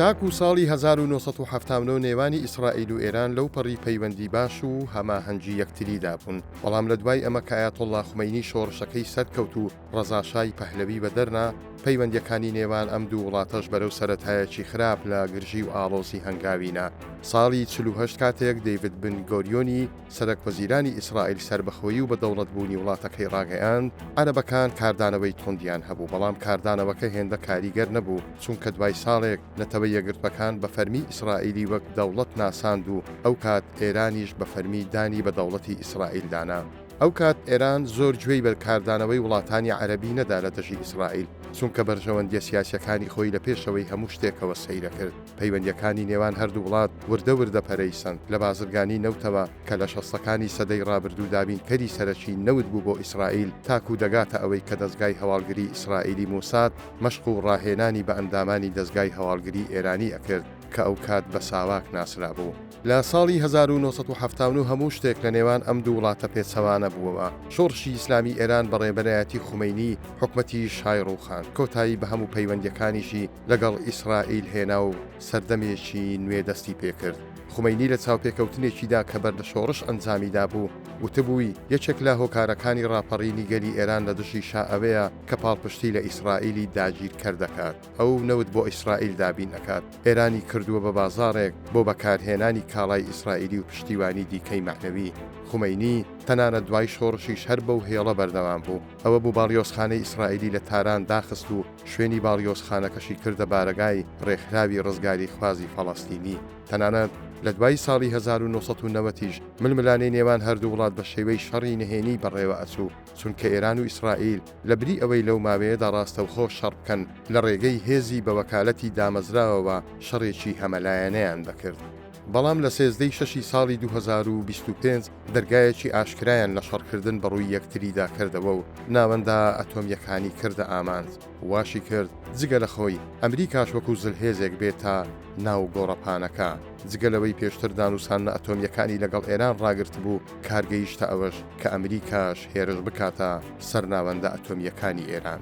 تاکوو ساڵی هەزار و نۆ سەد و حەفتا و نۆ نێوانی ئیسرائیل و ئێران لەو پەڕی پەیوەندی باش و هەماهەنگی یەکتریدا بوون، بەڵام لە دوای ئەمە کە ئایەتوڵڵا خومەینی شۆڕشەکەی سەرکەوت و ڕەزا شای پەهلەوی بەدەر نا، پەیوەندییەکانی نێوان ئەم دوو وڵاتەش بەرەو سەرەتایەکی خراپ لە گرژی و ئاڵۆزی هەنگاوی نا. ساڵی چل و هەشت کاتێک دەیڤد بن گۆریۆنی سەرەکوەزیرانی ئیسرائیل سەربەخۆیی و بەدەوڵەتبوونی وڵاتەکەی ڕاگەیاند، عەرەبەکان کاردانەوەی توندیان هەبوو، بەڵام کاردانەوەکە هێندە کاریگەر نەبوو، چونکە دوای ساڵێک نەتەوە یەکگرتووەکان بە فەرمی ئیسرائیلی وەک دەوڵەت ناساند و ئەو کات ئێرانیش بە فەرمی دانی بە دەوڵەتی ئیسرائیل دانا. ئەو کات ئێران زۆر گوێی بە کاردانەوەی وڵاتانی عەرەبی نەدا لە دژی ئیسرائیل، چونکە بەرژەوەندییە سیاسییەکانی خۆی لە پێشەوەی هەموو شتێکەوە سەیرەکرد. پەیوەندییەکانی نێوان هەردوو وڵات وردە وردە پەرەی سەند لە بازرگانی نەوتەوە کە لە شەستەکانی سەدەی ڕابردوو دابینکەری سەرەکی نەوت بوو بۆ ئیسرائیل تاکوو دەگاتە ئەوەی کە دەزگای هەواڵگری ئیسرائیلی موساد مەشق و ڕاهێنانی بە ئەندامانی دەزگای هەواڵگری ئێرانی ئەکرد کە ئەوکات بە ساواک ناسرابوو. لە ساڵی هەزار و نۆ سەد و حەفتا و نۆ هەموو شتێک لە نێوان ئەم دوو وڵاتە پێچەوانە بووەوە. شۆڕشی ئیسلامی ئێران بە ڕێبەرایەتی خومەینی، حکومەتی شای ڕووخاند، کۆتایی بە هەموو پەیوەندییەکانیشی لەگەڵ ئیسرائیل هێنا و سەردەمێکی نوێ دەستی پێ کرد. خومەینی لە چاوپێکەوتنێکیدا کە بەر لە شۆڕش ئەنجامی دابوو، وتبووی، یەکێک لە هۆکارەکانی ڕاپەڕینی گەلی ئێران لە دژی شا ئەوەیە کە پاڵپشتی لە ئیسرائیلی داگیرکەر دەکات. ئەو نەوت بۆ ئیسرائیل دابین ئەکات، ئێرانی کردووە بە بازاڕێک بۆ بەکارهێنانی کاڵای ئیسرائیلی و پشتیوانی دیکەی مەعنەوی خومەینی، تەنانەت دوای شۆڕشیش هەر بەو هێڵە بەردەوام بوو، ئەوە بوو باڵیۆزخانەی ئیسرائیلی لە تاران داخست و شوێنی باڵیۆزخانەکەشی کردە بارەگای ڕێکخراوی ڕزگاریخوازی فەڵەستینی، تەنانەت لە دوای ساڵی هەزار و نۆ سەد و نەوەد یش ململانێی نێوان هەردوو وڵات بە شێوەی شەڕی نهێنی بەڕێوە ئەچوو. چونکە ئێران و ئیسرائیل لە بری ئەوەی لەو ماوەیەدا ڕاستەوخۆ شەڕ بکەن، لە ڕێگەی هێزی بە وەکالەتی دامەزراوەوە شەڕێکی هەمەلایەنەیان دەکرد. بەڵام لە سێزدە ی شەشی ساڵی دوو هەزار و بیست و پێنج دەرگایەکی ئاشکرایان لە شەڕکردن بە ڕووی یەکتریدا کردەوە و ناوەندە ئەتۆمییەکانی کردە ئامانج. واشی کرد جگە لە خۆی ئەمریکاش وەکو زلهێزێک بێتە ناو گۆڕەپانەکە، جگە لەوەی پێشتر دانوساننە ئەتۆمییەکانی لەگەڵ ئێران ڕاگرتبوو، کار گەیشتە ئەوەش کە ئەمریکاش هێرش بکاتە سەر ناوەندە ئەتۆمییەکانی ئێران.